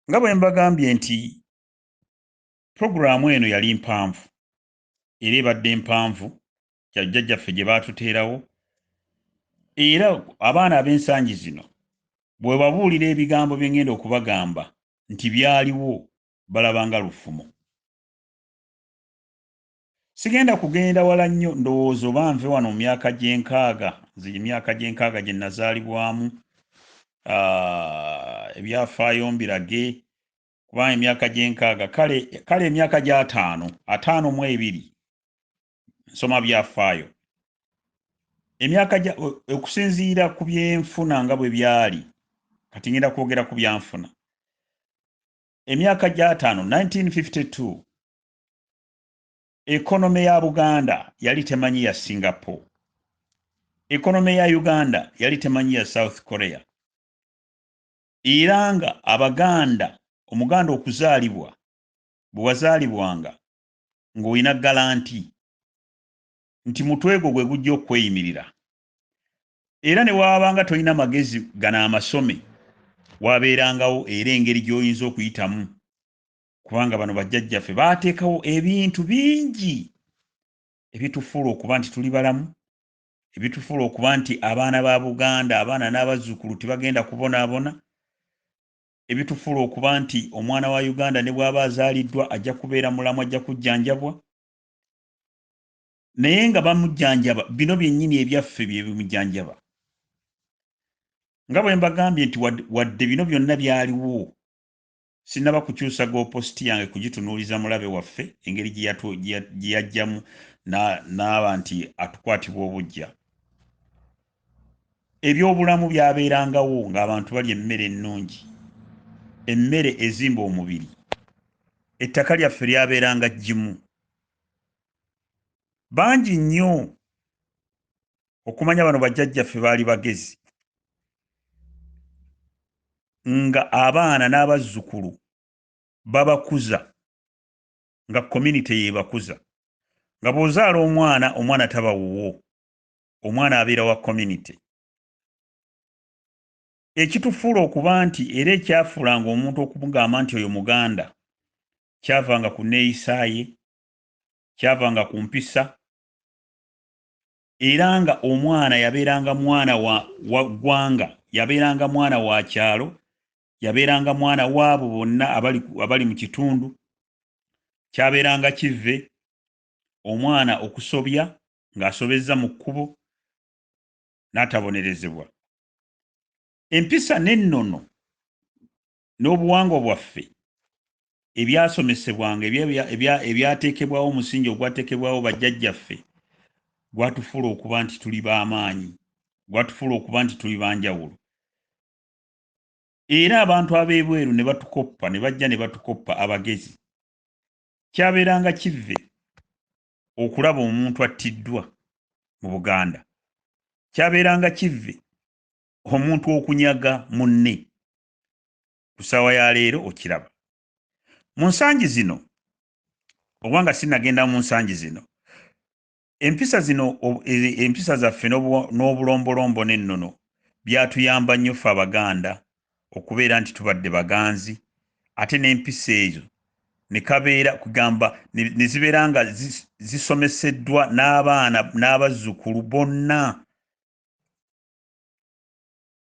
nga bwe mbagambye nti pulogulaamu eno yali mpanvu era ebadde mpanvu jajjajjaffe gye baatuteerawo era abaana ab'ensangi zino bwe babuulira ebigambo bye ngenda okubagamba nti byaliwo balabanga lufumo Sigenda kugenda wala nnyo, ndowooza oba nve wano mu myaka gy'enkaaga, nze gy'emyaka gy'enkaaga gye nnazaalibwamu, ah, ebyafaayo mbirage, kuba emyaka gy'enkaaga, kale, kale emyaka gy'ataano, ataano mu ebiri, nsoma byafaayo. Emyaka gya, okusinziira ku byenfuna nga bwe byali, kati ngenda kwogera ku byanfuna. Emyaka gy'ataano, 1952, Ekonome ya Buganda yali temanyi ya Singapore. Ekonome ya Uganda yali temanyi ya South Korea. Era nga Abaganda, Omuganda okuzaalibwa, bwe wazaalibwanga ng'olina galanti nti mutwe gwo gwe gujja okukweyimirira. Era ne waabanga tolina magezi gano amasome, waabeerangawo era engeri gy'oyinza okuyitamu kubanga bano bajjajjaffe baateekawo ebintu bingi ebitufuula okuba nti tuli balamu ebitufuula okuba nti abaana ba buganda abaana n'abazzukulu tebagenda kubonaabona ebitufuula okuba nti omwana wa uganda ne bw'aba azaaliddwa ajja kubeera mulamu ajja kujjanjabwa naye nga bamujjanjaba bino byennyini ebyaffe bye bimujjanjaba nga bwe mbagambye nti wadde bino byonna byaliwo Sinnaba kukyusa goopositi yange kugitunuuliza mulabe waffe engeri gye yajjamu n'aba nti atukwatibwa obuggya. Ebyobulamu byabeerangawo ng'abantu balya emmere ennungi, emmere ezimba omubiri. Ettaka lyaffe lyabeeranga jjimu. Bangi nnyo okumanya bano bajjajjaffe baali bagezi nga abaana n'abazzukulu babakuza nga community yebakuza nga bw'ozaala omwana omwana taba wuwo omwana abeera wa community ekitufuula okuba nti era ekyafuulanga omuntu okumugamba nti oyo muganda kyavanga ku neeyisa ye kyavanga ku mpisa era nga omwana yabeeranga mwana wa, wa ggwanga yabeeranga mwana wa kyalo yabeeranga mwana waabo bonna abali, abali mu kitundu kyabeeranga kivve omwana okusobya ng'asobezza mu kkubo n'atabonerezebwa empisa n'ennono n'obuwangwa bwaffe ebyasomesebwanga ebyateekebwawo omusingi ogwateekebwawo bajjajjaffe gwatufuula okuba nti tuli b'amaanyi gwatufuula okuba nti tuli banjawulo era abantu ab'ebweru ne batukoppa ne bajja ne batukoppa abagezi kyabeeranga kivve okulaba omuntu attiddwa mu buganda kyabeeranga kivve omuntu okunyaga munne ku ssaawa ya leero okiraba mu nsangi zino oba nga sinagenda mu nsangi zino empisa zino empisa zaffe n'obulombolombo n'ennono byatuyamba nnyo ffe abaganda okubeera nti tubadde baganzi ate n'empisa ezo nekabeera kugamba nezibeera nga zisomeseddwa n'abaana n'abazzukulu bonna